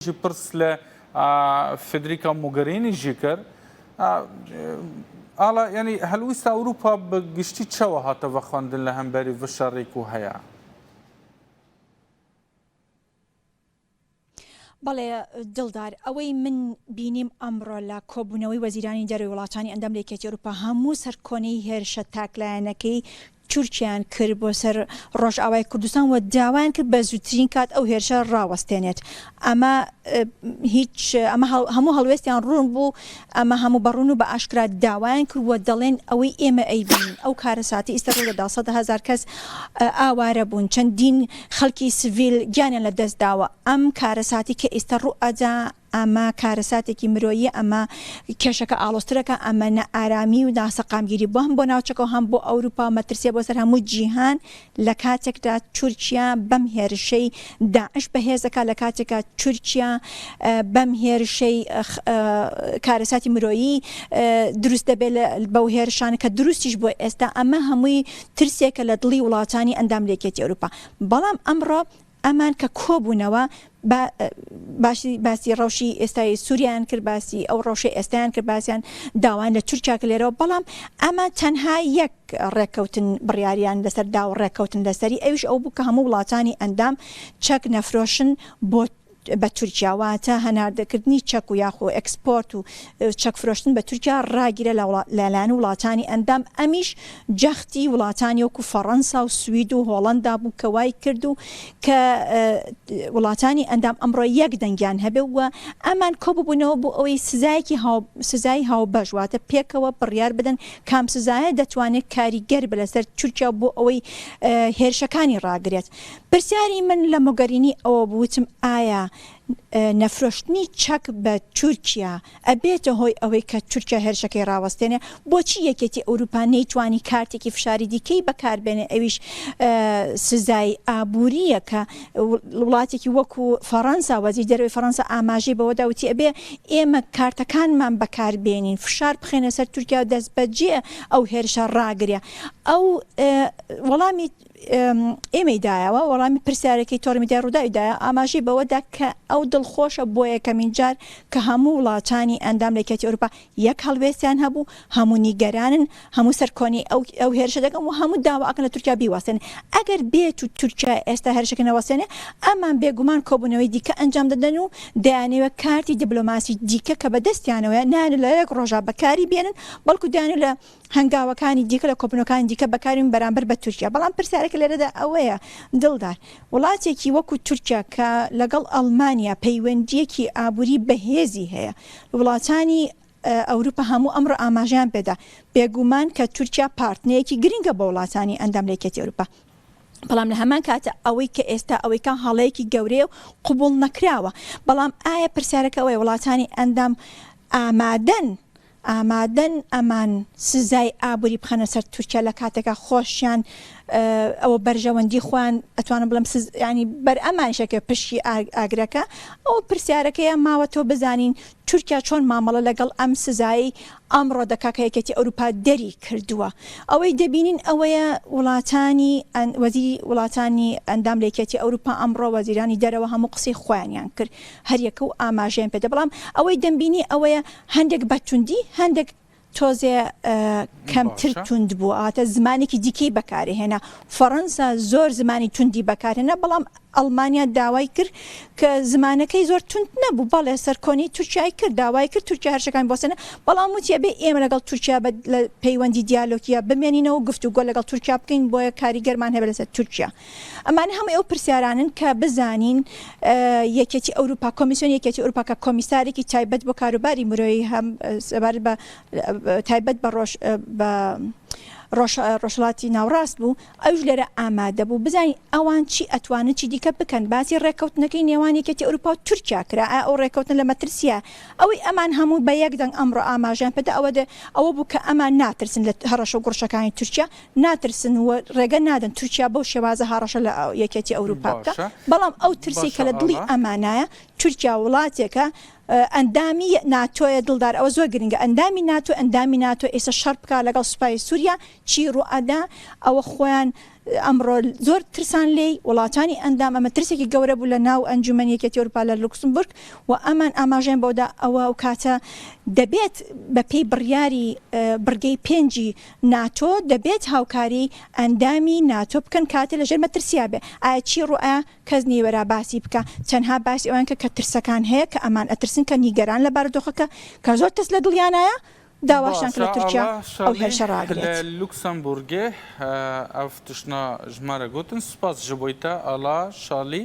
جی پرس لە فێدریکا موگەرینی ژی کەر ئاڵا یانی هەلویستا ئەوروپا بە گشتی چەوە هاتە بە خوەندن لە هەمبەری ڤشە ڕێک و هەیە. بەڵێ دڵدار ئەوەی من بینیم ئەمڕۆ لە کۆبوونەوەی وەزیرانی دەرەوەی وڵاتانی ئەندام لە یەکێتی ئەوروپا هەموو سەرکۆنەی هێرشە تاکلایەنەکەی چورکیان کرد بۆ سەر ڕۆژئاوای کوردستان و داوایان کرد بە زووترین کات ئەو هێرشە ڕاوەستێنێت ئەمە هیچ ئەمە هەموو هەڵوێستیان ڕوون بوو ئەمە هەموو بەڕون و بە ئاشکرا داوایان کرد و دەڵێن ئەوەی ئێمە ئەیبین ئەو کارە ساتی ئیستا ڕوو لەدا سەدە هزار کەس ئاوارە بوون چەندین خەڵکی سڤیل گیانیان لە دەست داوە ئەم کارە ساتی کە ئیستا ڕوو ئەدا ئەمە کارەساتێکی مرۆییە، ئەمە کێشەکە ئاڵۆزترەکە، ئەمە نائارامی و ناسەقامگیری بووە هەم بۆ ناوچەکە و هەم بۆ ئەوروپا و مەترسییە بۆ سەر هەموو جیهان لە کاتێکدا تورکیا بەم هێرشەی داعش بەهێز دەکات، لە کاتێکا تورکیا بەم هێرشەی کارەساتی مرۆیی دروست دەبێت بەو هێرشانە کە دروستیش بووە ئێستا ئەمە هەمووی ترسێکە لە دڵی وڵاتانی ئەندام لە یەکێتی ئەوروپا، بەڵام ئەمڕۆ ئەمان کە کۆبوونەوە با باشی باسی ڕەوشی ئێستای سووریان کرد باسی ئەو ڕەوشی ئێستیان کرد باسییان داوایان لە تورکیا کە لێرەوە بەڵام ئەمە تەنها یەک ڕێککەوتن بڕیاریان لەسەر دا و ڕێککەوتن لەسەری ئەوش ئەو بوو کە هەموو وڵاتانی ئەندام چەک نەفرۆشن بۆ بە تورکیاواتە هەناردەکردنی چەک و یاخۆ ئەکسپۆرت و چەک فرۆشتن بە تورکیا ڕاگیرە لەلایەن وڵاتانی ئەندام ئەمیش جەختی وڵاتانی وەکو فەڕەنسا و سوید و هۆڵەندا بوو کە وای کرد و کە وڵاتانی ئەندام ئەمڕۆ یەک دەنگیان هەبێ و ئەمان کۆ ببنەوە بۆ ئەوەی سزایەکی هاو سزای هاوبەش واتە پێکەوە بڕیار بدەن کام سزایە دەتوانێت کاریگەر بێ لەسەر تورکیا بۆ ئەوەی هێرشەکانی ڕاگرێت. پرسیاری من لە مۆگەرینی ئەوە بوو وتم ئایا نەفرۆشتنی چەک بە تورکیا ئەبێتە هۆی ئەوەی کە تورکیا هێرشەکەی ڕاوەستێنێ، بۆچی یەکێتی ئەوروپا نەیتوانی کارتێکی فشاری دیکەی بەکاربێنێ ئەویش سزای ئابورییە کە وڵاتێکی وەکو فەڕەنسا وەزیر دەرەوەی فەڕەنسا ئاماژەی بەوەدا وتی ئەبێ ئێمە کارتەکانمان بەکاربێنین فشار بخەێنە سەر تورکیا دەستبەجێ ئەو هێرشە ڕاگرێ ئەو وەڵامی ئێمەی دایەوە، وەڵامی پرسیارێکی تۆڕی میدیای رووداوی دایەوە، ئاماژەی بەوەدا کە ئەو دڵخۆشە بۆ یەکەمین جار کە هەموو وڵاتانی ئەندام لە یەکێتی ئەوروپا یەک هەڵوێستیان هەبوو، هەموو نیگەرانن، هەموو سەر کۆنی ئەو هێرشە دەگەن و هەموو داوا ئەکەن لە تورکیا بیوەستێنێ، ئەگەر بێت و تورکیا ئێستا هێرشەکەی نەوەستێنێ، ئەمان بێگومان کۆبوونەوەی دیکە ئەنجام دەدەن و دەیانەوێت کارتی دبلۆماسی دیکە کە بەدەستیانەوەیە نایانەوێت لە یەک رۆژا بەکاری بێنن، بەڵکو دەیانەوێت لە. هەنگاوەکانی دیکە لە کۆبوونەوەکانی دیکە بەکاربێن بەرامبەر بە تورکیا، بەڵام پرسیارەکە لێرەدا ئەوەیە، دڵدار، وڵاتێکی وەکو تورکیا کە لەگەڵ ئەڵمانیا پەیوەندییەکی ئابووری بەهێزی هەیە، وڵاتانی ئەوروپا هەموو ئەمڕۆ ئاماژەیان پێدا، بێگومان کە تورکیا پارتنەیەکی گرنگە بۆ وڵاتانی ئەندام لە یەکێتی ئەوروپا، بەڵام لە هەمان کاتە ئەوەی کە ئێستا ئەوەی کە هەڵەیەکی گەورەیە و قبوڵ نەکراوە، بەڵام ئایا پرسیارەکە ئەوەیە وڵاتانی ئەندام ئامادەن ئامادەن ئەمان سزای ئابوری بخەنە سەر تورکیا لە کاتێکا خۆشیان ئەوە بەرژەوەندی خۆیان ئەتوانم بڵم سز ینی بەر ئەمانشەکە پشکی ئاگرەکە ئەو پرسیارەکەیان ماوە تۆ بزانین تورکیا چۆن مامەڵە لەگەڵ ئەم سزایی ئەمڕۆ دەکا کە یەکێتی ئەوروپا دەری کردووە ئەوەی دەبینین ئەوەیە وڵاتانی وەزیری وڵاتانی ئەندام لەکێتی ئەوروپا ئەمڕۆ وەزیرانی دەرەوە هەموو قسەی خۆیانیان کرد هەریەکە و ئاماژەیان پێدە بەڵام ئەوەی دەمبینی ئەوەیە هەندێک بە توندی هەندێک تۆزێ کەمتر توند بوو ئاتە زمانێکی دیکەی بەکارهێنا فەڕەنسا زۆر زمانی توندی بەکارهێنا بەڵام ئەڵمانیا داوای کرد کە زمانەکەی زۆر تونند نەبوو بەڵێ سەرکۆنی تورکای کرد داوای کرد تورکیا هەرشەکان بۆسەنە بەڵام وتیە بێ ئێمە لەگەڵ تورکیا بە پەیوەندی دیالۆکیە بمێنینەوە گفتوگۆ لەگەڵ تورکیا بکەین بۆیە کاریگەرمان هەبێت لەسەر تورکیا ئەمانە هەمووی ئەو پرسیارانەن کە بزانین یەکێتی ئەوروپا کۆمیسیۆن یەکێتی ئەوروپا کە کۆمیسارێکی تایبەت بۆ کاروباری مرۆیی هەم سەبارەت بە تایبەت بە ڕۆژ بە ڕۆژهڵاتی ناوڕاست بوو ئەوش لێرە ئامادە بوو بزانین ئەوان چی ئەتوانن چی دیکە بکەن باسی ڕێککەوتنەکەی نێوان یەکێتی ئەوروپا و تورکیا کرا ئەو ڕێککەوتن لە مەترسیە ئەوەی ئەمان هەموو بە یەک دەنگ ئەمڕۆ ئاماژیان پێدا ئەوە دێ ئەوە بوو کە ئەمان ناترسن لە هەڕەشە و گوڕشەکانی تورکیا ناترسن و رێگە نادەن تورکیا بەو شێوازە هاڕەشە لە یەکێتی ئەوروپا بکا بەڵام ئەو ترسی کە لە دڵی ئەمانایە تورکیا وڵاتێکە ئەندامی ناتۆیە دڵدار ئەوە زۆر گرنگە ئەندامی ناتۆ ئەندامی ناتۆ ئێستا شەڕ بکە لەگەڵ سوپای سووریا چی ڕوئەدا ئەوە خۆیان ئەمڕۆ زۆر ترسان لێی وڵاتانی ئەندام ئەمە ترسێکی گەورە بوو لە ناو ئەنجومەن یەکێتی ئەوروپا لە لوکسمبورگ و ئەمان ئاماژەیان بەوەدا ئەوە و کاتە دەبێت بەپێی بڕیاری بڕگەی پێنجی ناتۆ دەبێت هاوکاری ئەندامی ناتۆ بکەن کاتێ لەژێر مەترسیا بێ ئایا چی ڕوئ کەس نیە وەرا باسی بکا تەنها باسی ئەوان کە کە ترسەکان هەیە کە ئەمان ئەترسن کە نیگەران لە بارودۆخەکە کە زۆر ترس لە دڵیانایە داواشان کە لە تورکیا ئەو هێرشە ڕاگرێت. باشە ئەڵا شەڕی لە لوکسەمبورگێ ئەڤ تشنا ژمارە گوتن سوپاس ژبویتە ئەڵا شەڵی.